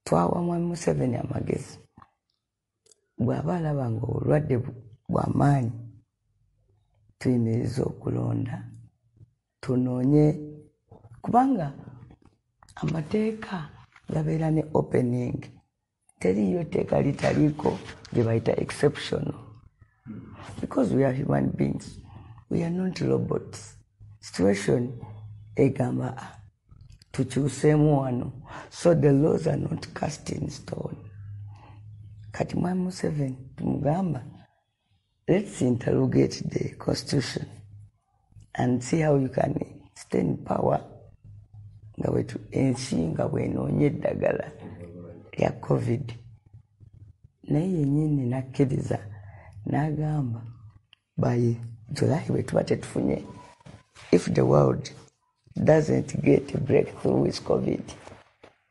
twawa mwami museveni amagezi bw'aba alaba nga obulwadde bwa maanyi tuyimiriza okulonda tunoonye kubanga amateeka gabeera ne opening teriyo tteeka litaliiko lye bayita exceptional because we are human beings we are not robots situation egamba ah, tukyuseemu wano so the laws are not cast in stone kati mwami museveni tumugamba Let's interrogate the constitution and see how you can stay in power nga wetu ensi nga bwenoonya eddagala lya covid naye yenyini nakkiriza n'agamba by july bwe tuba tetufunye if the world doesn't get a breakthrough with covid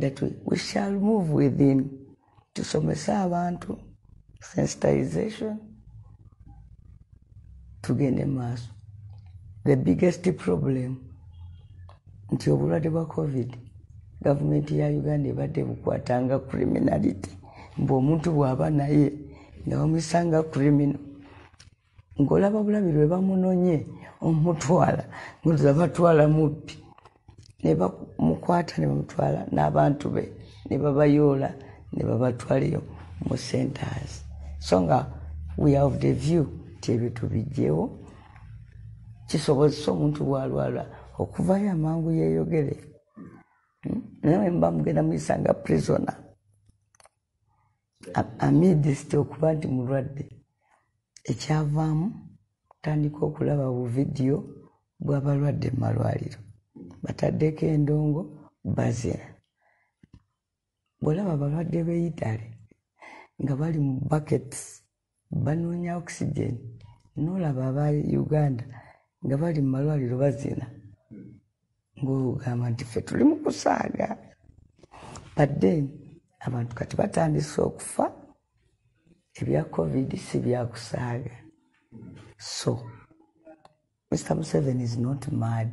that we, we shall move within tusomese abantu sensitization tugende maaso the biggest problem nti obulwadde bwa covid gavumenti ya uganda ebadde bukwata nga criminality mbu omuntu bwaba naye nga bamusanga criminal ngolaba bulabi lwe bamunonye omutwala ngoza batwala mubbi ne bamukwata ne bamutwala n'abantu be ne babayoola ne babatwaliyo mu centers so nga we have the view ti ebyo tubijjewo kisobozesa omuntu bwalwala okuvayo amangu yeyogere hmm? naye mba mugenda muyisanga prisoner amidist okuba nti mulwadde ekyavaamu tandika okulaba buvidiyo bwabalwadde mu malwaliro bataddeko endongo bazira bwolaba abalwadde beyitale nga bali mu buckets banoonya oxygen nolaba aba uganda nga bali mu malwaliro bazina ngaogamba nti ffe tuli mu kusaaga but then abantu kati batandise okufa ebya covid si byakusaaga so mr museven is not mad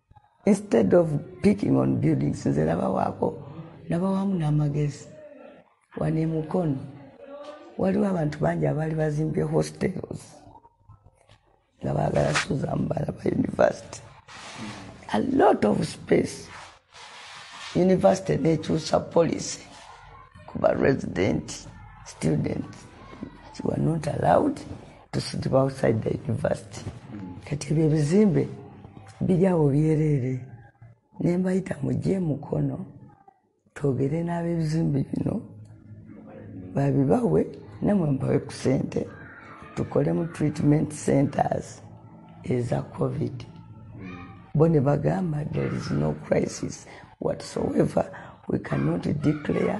instead of picking on buildings nze nabawaako nabawamu n'amagezi wano emukono waliwo abantu bangi abaali bazimbye hostels nga baagala suzambala ba university a lot of space university nekyusa policy kuba resident student were not allowed tusudibwa outside the university kati ebyo ebizimbe biri awo byereere nembayita mugye mukono twogere n'abebizimbe bino babibawe namwe mbawe ku sente tukolemu treatment centers eza covid bo ne bagamba there is no crisis whatsoever we cannot declare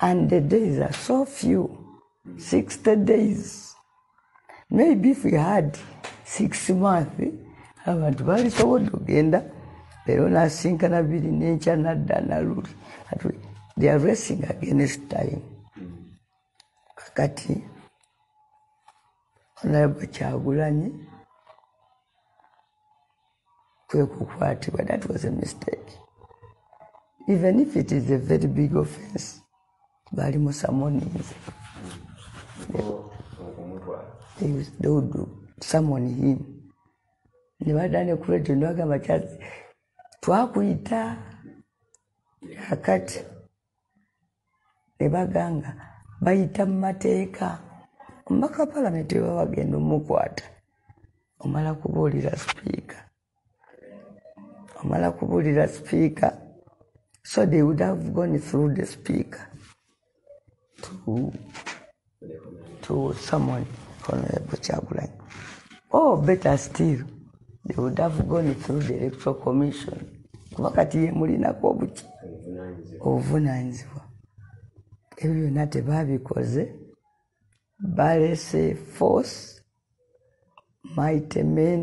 and the days are so few 60 days maybe if we had six month abantu balisobodde ogenda leero nasinkana biri nenkya nadda naluli they are racing against time kakati onalaba kyagulanyi kwe kukwatibwa that was a mistake even if it is a very big offense bali musamoninze they would summon him nebadda ne kuredio nebagamba kyasi twakuyita akati nebaganga bayita mu mateeka omubaka wa palamenti weba bagenda omukwata omala kubuulira sipiika omala kubuulira sipiika so they would have gone through the speaker to to someone Honorable Chagulanyi. Oh, better still, they would have gone through the electoral commission. kuba kati ye mulinako obuki obuvunanyizibwa ebyo byonna tebabikoze balese force mighty men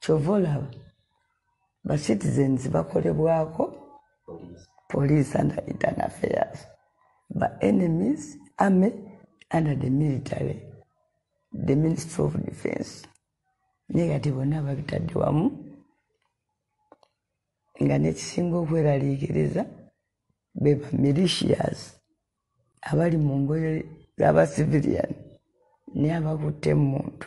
kyova olaba ba citizens bakolebwako police and internal affairs ba enemies army under the military the ministry of defense naye kati bonna babitadde wamu nga nekisinga okweraliikiriza be ba militias abali mu ngoye z'abacivilian naye abakutte mu muntu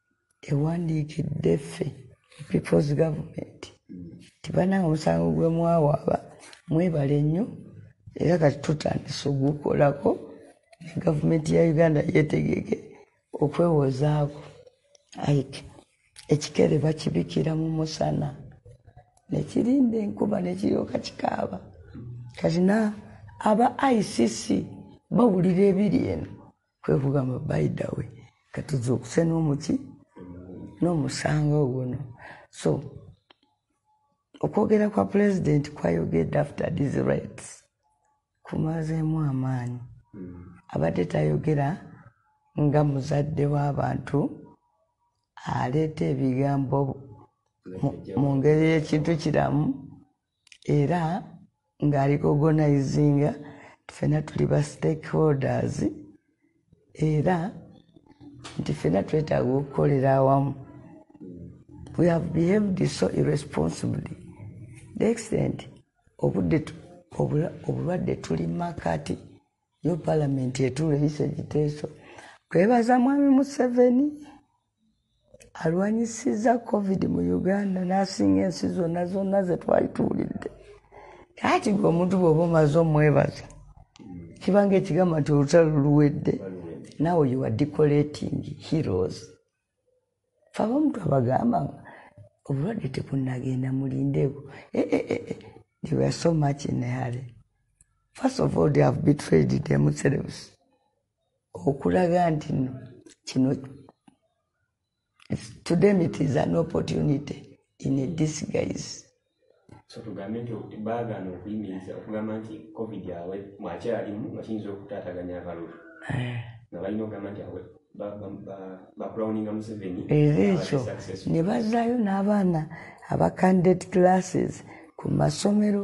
ewandiikidde ffe peoples government nti bananga omusango gwe mwawaaba mwebale nnyo era kati tutandise ogukolako ne gavumenti ya uganda yetegeke okwewozaako like ekikere bakibikira mu musana nekirinda enkuba nekiryoka kikaaba kazina aba icc bawulira ebiri eno kwekugamba baidawe katuzukuse nomuki nomusango guno so okwogera kwa pulezidenti kwayogedde after these rights kumazeemu amaanyi abadde tayogera nga muzadde w'abantu aleeta ebigambo mu ngeri y'ekintu kiramu era ng'ali kogonaizinga nti fena tuli ba stakeholders era nti fena twetaaga okukolera awamu we have behaved so irresponsibly the extent obudde obulwadde tuli makati yo palamenti etuula ekiso ekiteeso kwebaza mwami museveni alwanyisizza covid mu uganda n'asinga ensi zonna zonna ze twali tuwulidde kati gwe omuntu bweoba omaze omwebaza kibanga ekigamba nti olutalo luwedde nawe yiwa decorating heroes fe abamu twabagamba nga obulwadde tekunagenda mulindeeko eh, eh, eh, they were so much in hurry first of all they have betrayed them selves okulaga nti no kino to them it is an opportunity in a disguise so tugambe nti baagaana okuyimiriza okugamba nti covid awe mwakyalimu nga kiyinza okutaataganya abalulu eh. nga balina okugamba nti awe bakulawuninga museveni era ekyo ne bazaayo n'abaana aba candidate classes ku masomero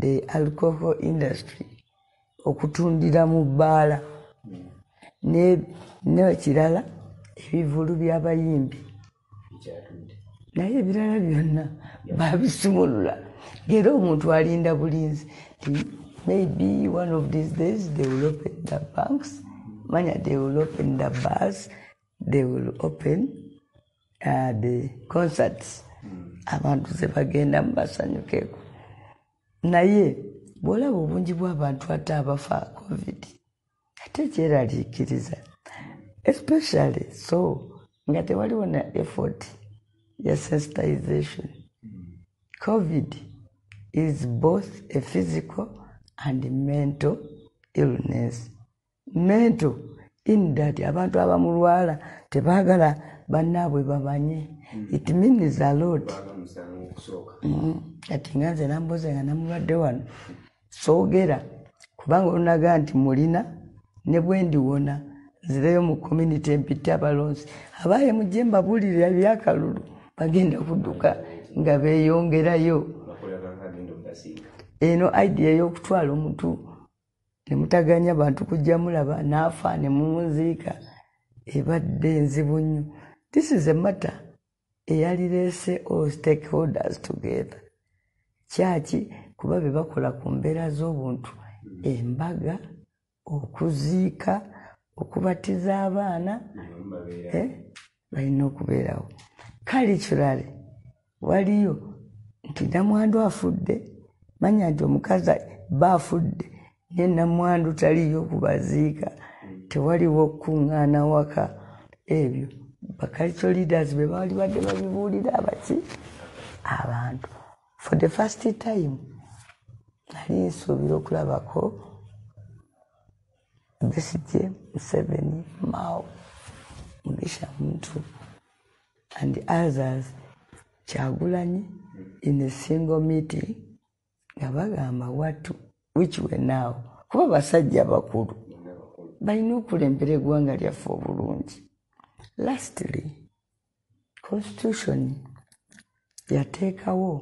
the alcohol industry okutundira mu bbaala nekirala ebivulu byabayimbi naye ebirala byonna babisumulula ngera omuntu alinda bulinzi maybe one of these days they will open the banks manya they will open the bars they will open ade concerts abantu zebagenda mubasanyukeko naye bwolaba obungi bwabantu ate abafa covid ate kyeraliikiriza especially so nga tewaliwo na effort ya sensitization covid is both a physical and mental illness mento indat abantu abamulwala tebagala banaabwe bamanye hmm. it means a lot hmm. kati nga nze namboze nga namulwadde wano soogera kubanga olunaga nti mulina ne bwendiwona nzireyo mu community empitte abalonzi abaaye mujje mbabulirira byakalulu bagenda kuduka nga beyongerayo eno idea eyokutwala omuntu ne mutaganya bantu kujja mulaba n'afa ne mumunziika ebadde nzibu nnyo this is a matter eyalireese all stakeholders together kyaki kuba be bakola ku mbeera z'obuntu embaga okuziika okubatiza abaana eh? balina okubeerawo kalikirale waliyo nti namwandu afudde manya nti omukazi ba afudde naye namwandu taliyo kubaziika tewaliwo okukuŋŋaana waka ebyo bakalico leaders be baali badde babibuulira abaki abantu for the first time nali nsuubira okulabako Besigye, Museveni, Mao, Mugisha Muntu, and others, Kyagulanyi in a single meeting nga bagamba watu which we now kuba basajja abakulu balina okulembera eggwanga lyaffe obulungi lastly constitution yateekawo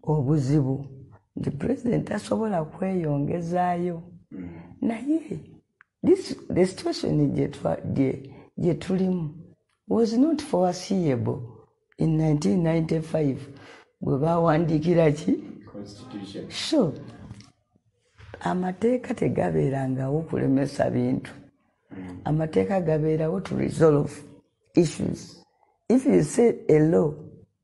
obuzibu nti president tasobola kweyongezaayo naye the situation gye tulimu was not foreseeable in 1995 bwe bawandiikira ki so amateeka tegabeerangawo kulemesa bintu mm. amateeka gabeerawo to resolve issues if you say a law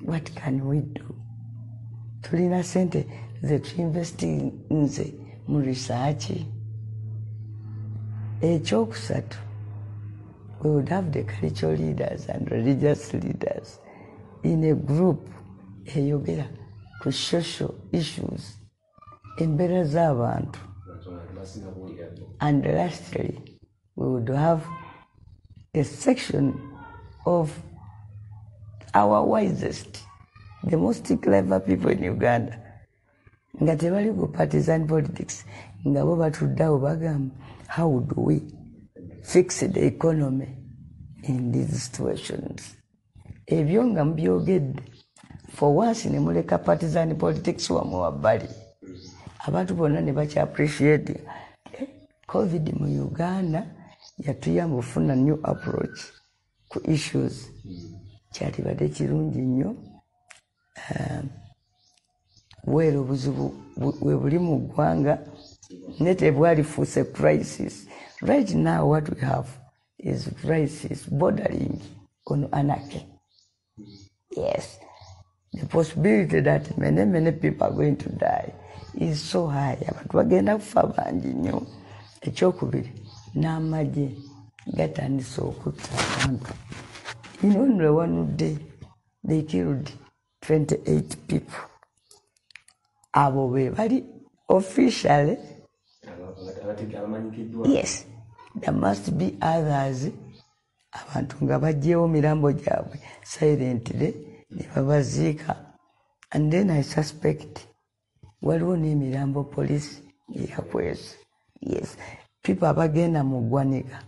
what can we do tulina sente zetuinvestinze mu risaaki ekyokusatu we would have the cultural leaders and religious leaders in a group eyogera ku social issues embeera z'abantu and lastly we would have a section of our wisest the most clever people in uganda nga tebali ku partisan politics nga bo batuddeawo bagamba how do we fix the economy in these situations ebyo nga mubyogedde for once ne muleka partisan politics wamwe wabbali abantu bonna ne bakya appreciate eh, covid mu uganda yatuyamba ofuna new approach ku issues kyalibadde kirungi nnyo um, weera obuzibu webuli mu ggwanga naye tebwalifuuse crisis right now what we have is crisis bordering on anarchy yes the possibility that many many people are going to die is so high abantu bagenda kufa bangi nnyo ekyokubiri n'amagye gatandise okutta abantu ino nwewanudde they killed 28 people abo be bali officially yes there must be others abantu nga bajjeewo mirambo gyabwe silently ne babaziika and then i suspect waliwo n'emirambo poliisi yakwesa yes people abagenda mu ggwanika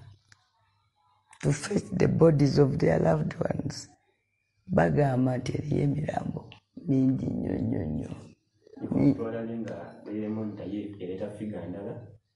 to face the bodies of their loved ones bagamba nti eriyo emirambo mingi nnyo nnyo nnyo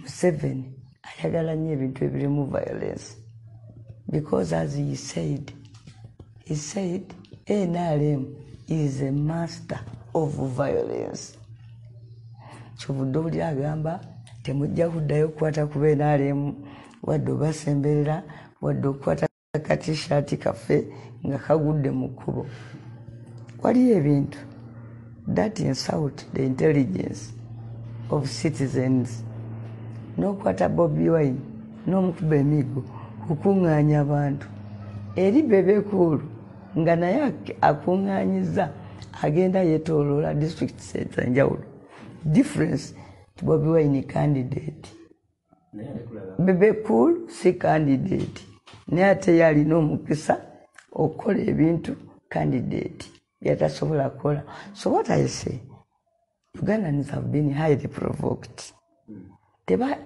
museveni ayagala nnyo ebintu ebirimu violence because as he said he said nrm is a master of violence kyovudde oli agamba temujja kuddayo okukwata kuba nrm wadde obasemberera wadde okukwata akatishaati kaffe nga kagudde mu kkubo waliyo ebintu that insult the intelligence of citizens n'okwata bobi wine n'omukuba emiggo kukuŋŋaanya abantu eri bebekuulu nga naye akuŋŋaanyiza agenda yetooloola district ez'enjawulo difference bobi wine candidate bebe cool si candidate naye ate yalina omukisa okukola ebintu candidate byatasobola kukola so what i say ugandans have been highly provoked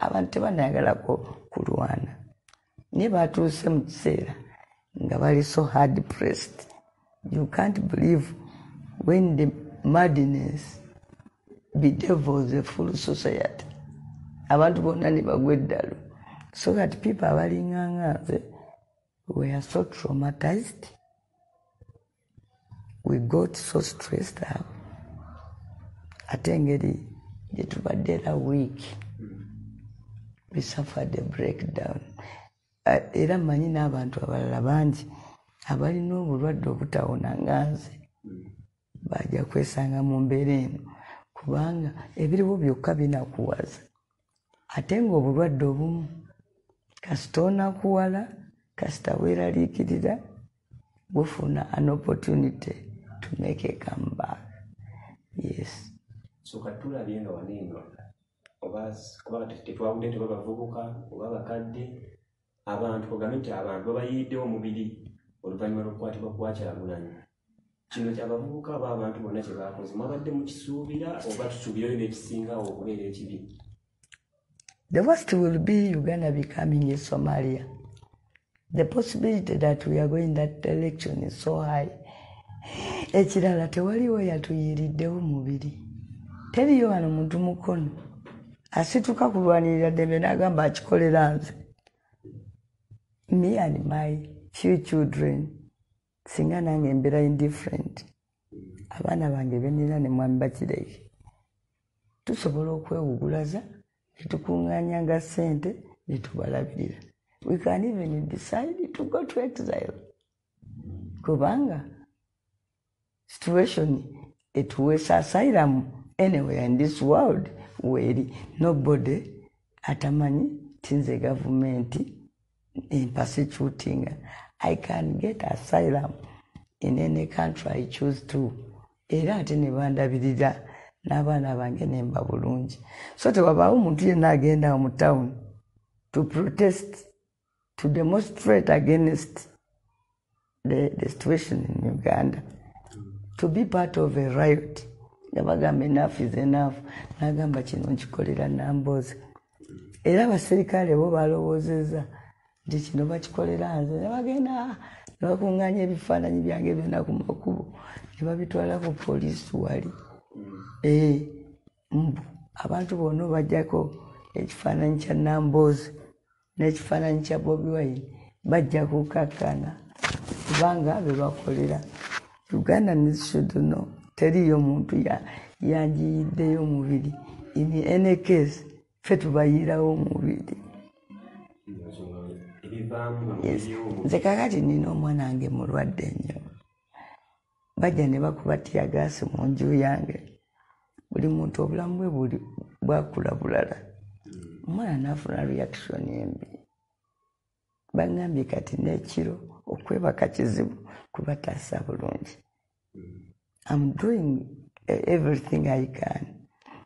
abantu tebanayagalako kulwana naye batuuse mu kiseera nga bali so hard pressed you can't believe when the madness bedevils a full society abantu bonna ne bagwa eddalu so that people abalinganga nze we are so traumatized we got so stressed up ate engeri gyetubadde era week we suffered a breakdown uh, era manyi n'abantu abalala bangi abalina obulwadde obutawona nga nze bajja kwesanga mu mbeera eno kubanga ebiriwo byokka binakuwaza ate ng'obulwadde obumu kasita onakuwala kasita weeraliikirira bufuna an opportunity to make a come back yes so katulabye nga wano eno oba kuba tetwawudde teba bavubuka oba bakadde abantu ogambe nti abantu babayiiddewo omubiri oluvannyuma lw'okukwatibwa kwa kyagulanyi kino kyabavubuka oba abantu bonna kye baakoze mwabadde mukisuubira oba tusuubirayo n'ekisingawo okubeera ekibi the worst will be uganda becoming a somalia the possibility that we are going that direction is so high ekirala tewaliwo yatuyiiriddewo mubiri teriyo wano muntu mukono asituka kulwanirira ddembe n'agamba akikolera nze me and my few children singa nange embeera indifferent abaana bange benina ne mwami bakireke tusobola okwewugulaza ne tukuŋŋaanya nga ssente ne tubalabirira we can even decide to go to exile kubanga situation etuweesa asylum anywhere in this world weeri nobody atamanyi tinze gavumenti empasicutinga i can get asylum in any country i choose to era ate nebandabirira n'abaana bange nemba bulungi so tewabaawo omuntu yenna agendawo mu town to protest to demonstrate against the, the situation in uganda to be part of a riot nga bagamba enafu is enafu nagamba kino nkikolera namboozi era abaserikale bo balowoozeza nti kino bakikolera nze nebagenda ah, nebakunganya ebifaananyi byange byona ku makubo nebabitwala ku poliisi wali eh, mbu abantu bona obajjako ekifaananyi kya namboozi n'ekifaananyi kya bobi wine bajja kukakkana kubanga be bakolera uganda nisuduno teriyo muntu yanjiyiddeyo omubiri in any case fe tubayiirawo omubiri nze kakati nina omwana nge mulwadde nnyo bajja ne bakuba tiyagaasi mu nju yange buli muntu obulamu bwe buli bwakula bulala omwana nafuna reaction embi bangambye kati nekiro okwebaka kizibu kubataasa bulungi am doing everything i can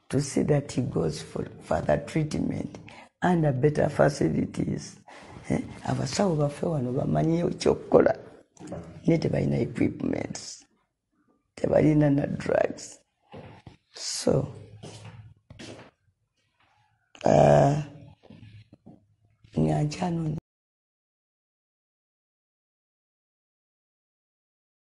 to see that he goes for further treatment under better facilities eh, abasawo baffe wano bamanyi kyokukola naye tebalina equipments tebalina na drugs so uh, nga nkyanoonya